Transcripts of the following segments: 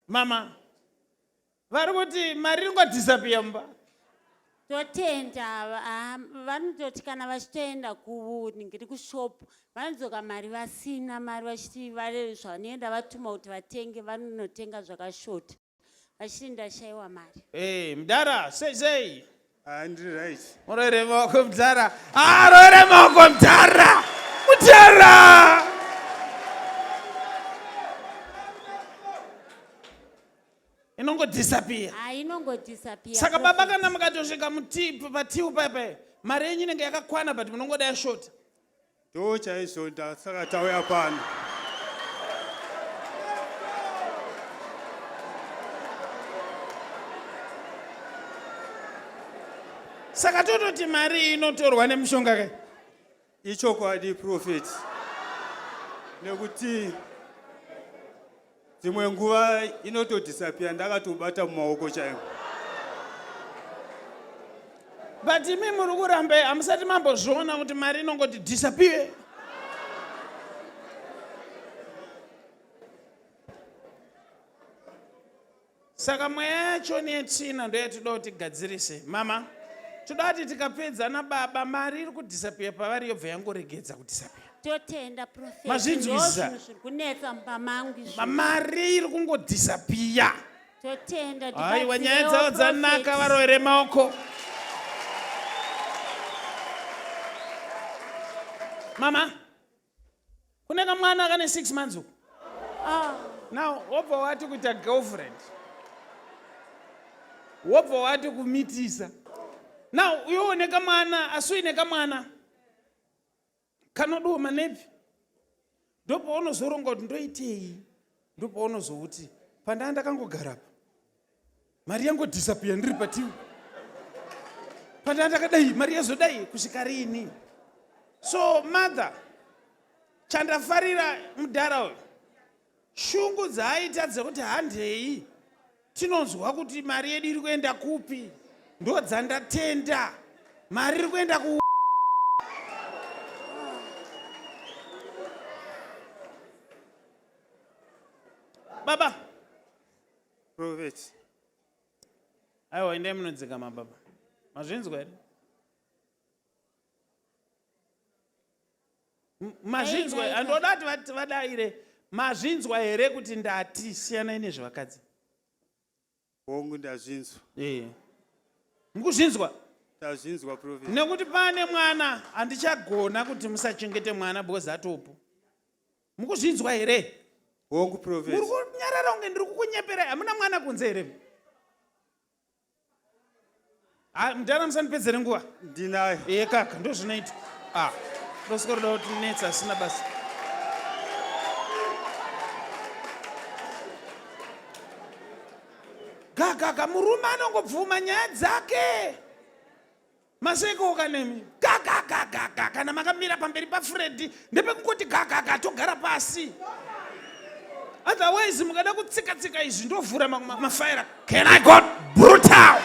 mama vari kuti mari ringodhisapiya mumba totenda ah, vanototi kana vachitoenda kuringiri kushop vanodzoka mari vasina mari vachiti vare zvavanoenda vatuma kuti vatenge vanonotenga zvakashota vachiti ndashaiwa mari hey, eh, mdara sei sei Ah, ndiri right. Muroere maoko mdhara. Ah, roere maoko mdhara. Mdhara. Inongo disappear. Ah, inongo disappear. Saka baba kana mukatosvika mutipu patiu paipai. Mari yenyu inenge yakakwana but munongoda yashota. Ndoo chaizvo ndasaka tauya pano. Saka tototi mari inotorwa nemushonga kai? Ichokwadi prophet. Nekuti dzimwe nguva inotodhisapiya ndakatobata mumaoko chaimo but imi muri kuramba hamusati mambozviona kuti mari inongoti dhisapiye Saka mweya yacho netsvina ndoyatinoda kuti tigadzirise. Mama, toda kuti tikapedza nababa mari iri kudhisapiya pavari yobva yangoregedza kudhisapiya. totenda prophet Mazvinzwisa. ndozvinhu zviri kunetsa mumba mangu izvi Ma- Mari iri kungodhisapiya. totenda Aiwa nyaya tibatsirewo, dzavo dzanaka prophet. varovere maoko. Mama, kune kamwana kane six months uku ah, now wobva wati kuita girlfriend wobva wati kumitisa now uyoone kamwana asi uine kamwana kanodiwo manepi ndopaunozoronga kuti ndoitei ndopaunozouti pandaa ndakangogara apa mari yangodhisapiya ndiri pativi pandaa ndakadai mari yazodai kusvika riini so mother chandafarira mudhara uyu shungu dzaaita dzekuti handei tinonzwa kuti mari yedu iri kuenda kupi ndo dzandatenda mari iri kuenda ku Baba. Prophet. Aiwa endai munodzikama baba. Mazvinzwa here? Mazvinzwa here? Andoda kuti vadaire. Mazvinzwa here kuti ndati siyanai nezvevakadzi? hongu ndazvinzwa Eh. mukuzvinzwa ndazvinzwa profesa nekuti pane mwana handichagona kuti musachengete mwana because atopo mukuzvinzwa here hongu muri profesa kunyarara kunge ndiri kukunyeperai hamuna mwana kunze here Ah, mdara musandipedzere nguva. Ndinayo. Iye kaka ndozvinoitwa. Ah. Ndosiko roda kuti netsa asina basa. Gagaga murume anongobvuma nyaya dzake. Maseko kanemi. Gagaga kana makamira pamberi paFreddy ndepekungoti gagaga togara pasi otherwise mukada kutsika tsika izvi ndovhura mafaira can i got brutal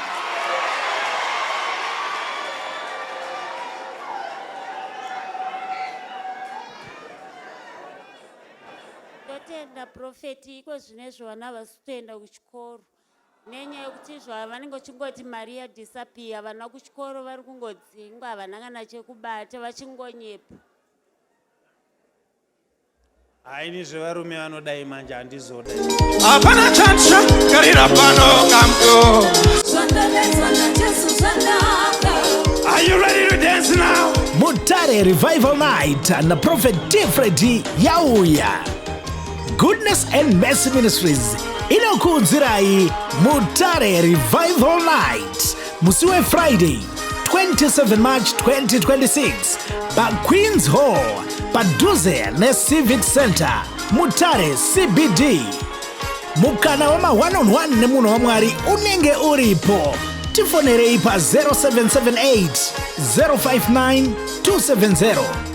ndotenda profeti iko zvine zvovana vasi kutoenda kuchikoro nenyaya yekuti izvo vanenge vachingoti mari yadhisapiya vana kuchikoro vari kungodzingwa havana kana chekubata vachingonyepa haini zvevarume vanodai manje handizoda hapana chatsva karira pano kamdo Are you ready to dance now? Mutare Revival Night na Prophet Tfredi yauya. Goodness and Mercy Ministries inokuudzirai Mutare Revival Night musi weFriday 27 March 2026 paQueens Hall padhuze neCivic Center Mutare CBD. Mukana wema one on one nemunhu waMwari unenge uripo. Tifonerei pa 0778 059 270